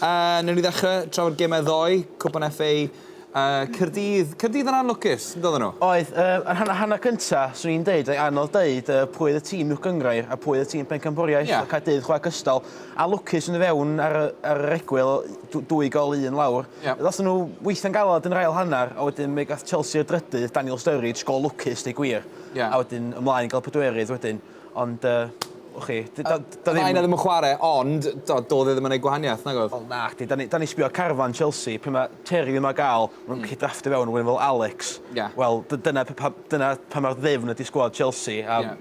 A newn ni ddechre trafod gemau ddoe, Cwpan FA Caerdydd, Caerdydd yn anlwcus, yn doedden nhw? Oedd, yy, yn hanner hanner cynta, swn i'n deud, oedd anodd deud yy pwy oedd y tîm uwch gynghrair a pwy oedd y tîm pencampwriaeth. Ie. Oedd Caerdydd chwarae cystal a lwcus yn y fewn ar y ar yr egwyl, dw- dwy gol un lawr. Ie. Ddathon nhw weithiau'n galed yn yr ail hanner a wedyn mi gath Chelsea y drydydd, Daniel Sturridge, gol lwcus deu gwir. Ie. A wedyn ymlaen i gael y pedwerydd wedyn. Ond yy, wch chi, d- do- do- ddim... Mae yna ddim yn chwarae, ond do- doedd e ddim yn ei gwahaniaeth, nag oedd? Wel, nacdi. Da ni, da ni sbio carfan Chelsea, pe mae Terry ddim ar gael, mae'n gallu drafftio fewn rhywun fel Alex. Ie. Wel, d- dyna, p- pa, dyna pa mae'r ddefn ydi sgwad Chelsea, a Ie.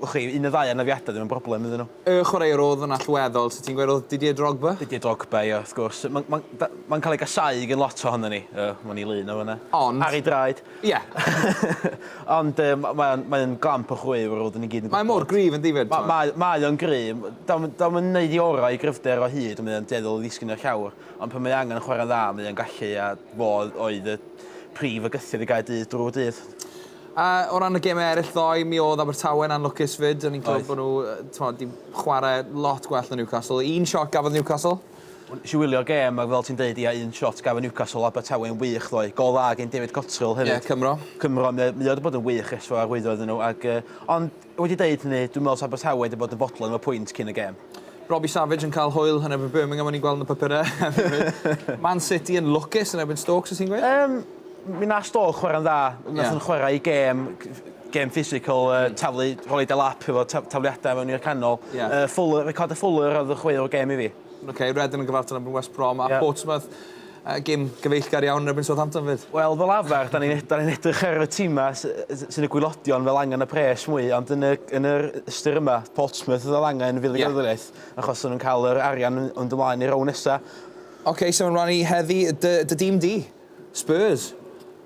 wch chi, un o ddau anafiadau ddim yn broblem iddyn nhw. Y chwaraewr oedd yn allweddol, so ti'n gweud oedd Didier Drogba? Didier Drogba, ie, wrth gwrs. Mae'n ma, ma cael ei gasau gen lot ohono ni. Ie, mae'n ei lun o fyna. Ond- Ar ei draed. Ie. Ond yy ma' mae o'n mae o'n gamp o chwi fel rw'd ni gyd yn gwbod. Mae mor gryf yndyfe t'mod? Ma' mae mae o'n gry' m- 'di o'm 'di o'm yn neud 'i ora' i gryfder o hyd on' mae o'n dueddol o ddisgyn i'r llawr ond pan mae angen chwarae'n dda mae o'n gallu a fo oedd y prif fygythiad i Gaerdydd drw'r dydd. A o ran y geme eryll ddoe mi odd Abertawe'n anlwcus 'fyd o'n i'n clywed bo' n'w yy t'mod 'di chware lot gwell na Newcastle. Un shot gafodd Newcastle. Nes i wylio gêm ag fel ti'n deud ia un shot gafon Newcastle Abertawe'n wych ddoe. Gol dda gin David Cottrell hefyd. Ie Cymro. Cymro mae mae o 'di bod yn wych ers tro arwyddo iddyn nhw ac yy ond wedi deud hynny dwi'n meddwl 's Abertawe wedi bod yn fodlon efo pwynt cyn y gêm. Robbie Savage yn cael hwyl yn erbyn Birmingham o'n i'n gweld yn y papure hefyd. Man City yn lwcus yn erbyn Stoke so ti'n gweud? Yym Mi wnaeth Stoke chwarae'n dda. Wnaethon nhw chwarae i gêm gêm physical, uh, mm. taflu, rhoi de lap efo tafliadau mewn i'r canol. Yeah. Uh, Fuller, record y Fuller oedd y chwaraewr gêm i fi. Oce, okay, Redden yn gyfartal yn West Brom a yeah. Portsmouth. Uh, gym gyfeillgar iawn yn erbyn Southampton fyd. Wel, fel afer, da ni'n ni edrych ar y tîmau sy'n y gwylodion fel angen y pres mwy, ond yn, y, yn yr ystyr yma, Portsmouth oedd fel angen fydd y yeah. gyfraith, achos nhw'n cael yr arian yn dymlaen i'r rown nesaf. Oce, okay, sef so ymlaen i heddi, dy, dy dîm di? Spurs!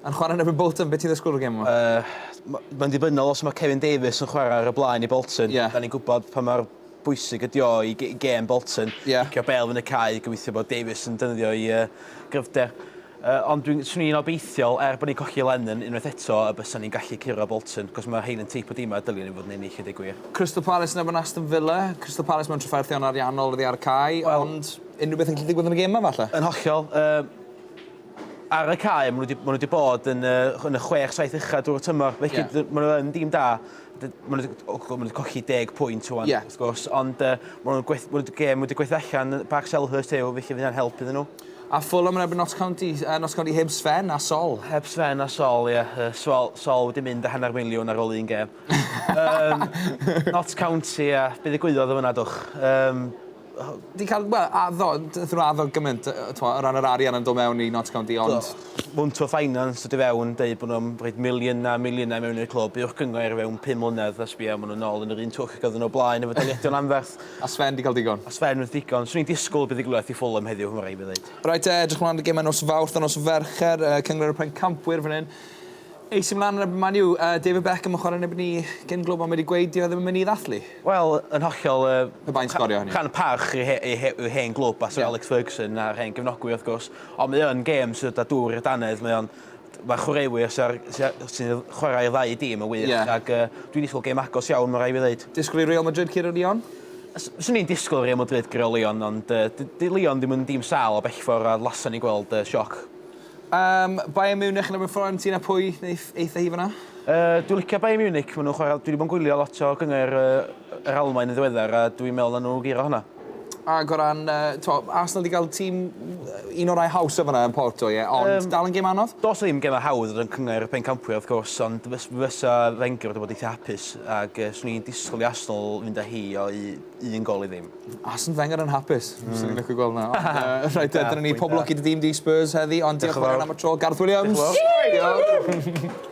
Yn chwarae yn erbyn Bolton, be ti'n ddysgwyl o'r gêm yma? Yy, mae'n ddibynnol os mae Kevin Davies yn chwarae ar y blaen i Bolton. Ie. Da ni'n gwybod pa mor bwysig ydi o i i gêm Bolton. Ie. Cicio bel fyny cae, gobeithio bod Davies yn defnyddio ei yy gryfder. Yy, ond dwi'n... swn i'n obeithiol, er bod ni'n colli Lennon unwaith eto, y bysa ni'n gallu curo Bolton, cos mae rhein yn teip o dimau dylion ni fod yn ennill, i ddeud gwir. Crystal Palace yn erbyn Aston Villa. Crystal Palace mewn trafferthion ariannol oddi ar y cae, ond unrhyw beth yn gallu digwydd yn y gêm 'ma falle? Yn hollol. Yy. Ar y cae, maen nhw wedi bod yn y chwech, saith uchaf drwy'r tymor. Felly, yeah. maen nhw yn dîm da. Maen nhw wedi cochi deg pwynt o'n, yeah. wrth gwrs. Ond uh, maen nhw wedi gem wedi gweithio allan Park Selhurst yw, felly fydd hynna'n help iddyn nhw. A ffwl am rebyn Notts County, uh, Notts County heb Sven a Sol. Heb Sven a Sol, ie. Yeah. Sol, Sol wedi mynd a hanner miliwn ar ôl un gem. um, Notts County, ie. Yeah. Bydd y gwyddoedd yn fyna, dwch. Um, Di cael, wel, addo, nathon nhw addo gymaint, t'mo', o ran yr arian yn dod mewn i Notts County, ond... Do. Mounto Finance yn dod i fewn, deud bo' nhw'n rhoid miliyna a miliyna i mewn i'r clwb, uwch gyngor i fewn pum mlynedd, a sbia, ma' nhw nôl yn yr un twll ag oedden nhw o blaen efo daliadau'n anferth. A Sven 'di cael digon. A Sven wrth ddigon. Swn i'n disgwl buddugoliaeth i Fulham heddiw, ma' raid fi ddeud. Reit te, edrych mlan at y gemau nos Fawrth a nos Fercher, yy Cyngor y Pencampwyr fan hyn. Ei sy mlan yn erbyn Man U. Yy David Beckham yn chware yn erbyn ni cyn glwb ond wedi gweud dyw e ddim yn myn i ddathlu. Wel, yn hollol yy... Pe bai'n sgorio hynny. ...rhan parch i he- i he- i'w hen glwb a Syr Alex Ferguson a'r hen gefnogwyr wrth gwrs ond mae yn gêm sydd â dŵr i'r dannedd mae o'n t- ma' chwaraewyr sy ar sy a- sy'n yy chwarae i'r ddau dîm yn wych... Ie. ...ag yy dwi ddisgwl gêm agos iawn ma' rai' fi ddeud. Disgwl i Real Madrid curo Lyon? S- swn i'n disgwl Real Madrid guro Lyon ond yy dy- 'di Lyon ddim yn dîm sâl o bellfor a lason ni gweld yy sioc Am Bayern Munich yn erbyn Fiorentina pwy neith eitha hi fanna? Yy dwi licio Bayern Munich ma' nw'n chwara dwi 'di bo' yn gwylio lot o gyngerdd yy yr Almaen yn ddiweddar a dwi'n me'wl nawn nw guro honna. Ag o ran yy t'mo' Arsenal 'di ga'l tîm yy un o rai hawsa fan 'na yn Porto ie ond... Yym. ...dal yn gêm anodd? Do's 'na ddim geme hawdd yn cyngerdd y pencampwyr wrth gwrs ond fys- fysa Wenger wedi bod eitha hapus ag yy swn i'n disgwl i Arsenal fynd â hi o i un gol i ddim. Arsene Wenger yn hapus. Mm. Swn i'n licio gweld na. uh, right, dyna ni poblogi dy dîm di Spurs heddi, ond diolch yn fawr am y tro, Garth Williams. Diolch.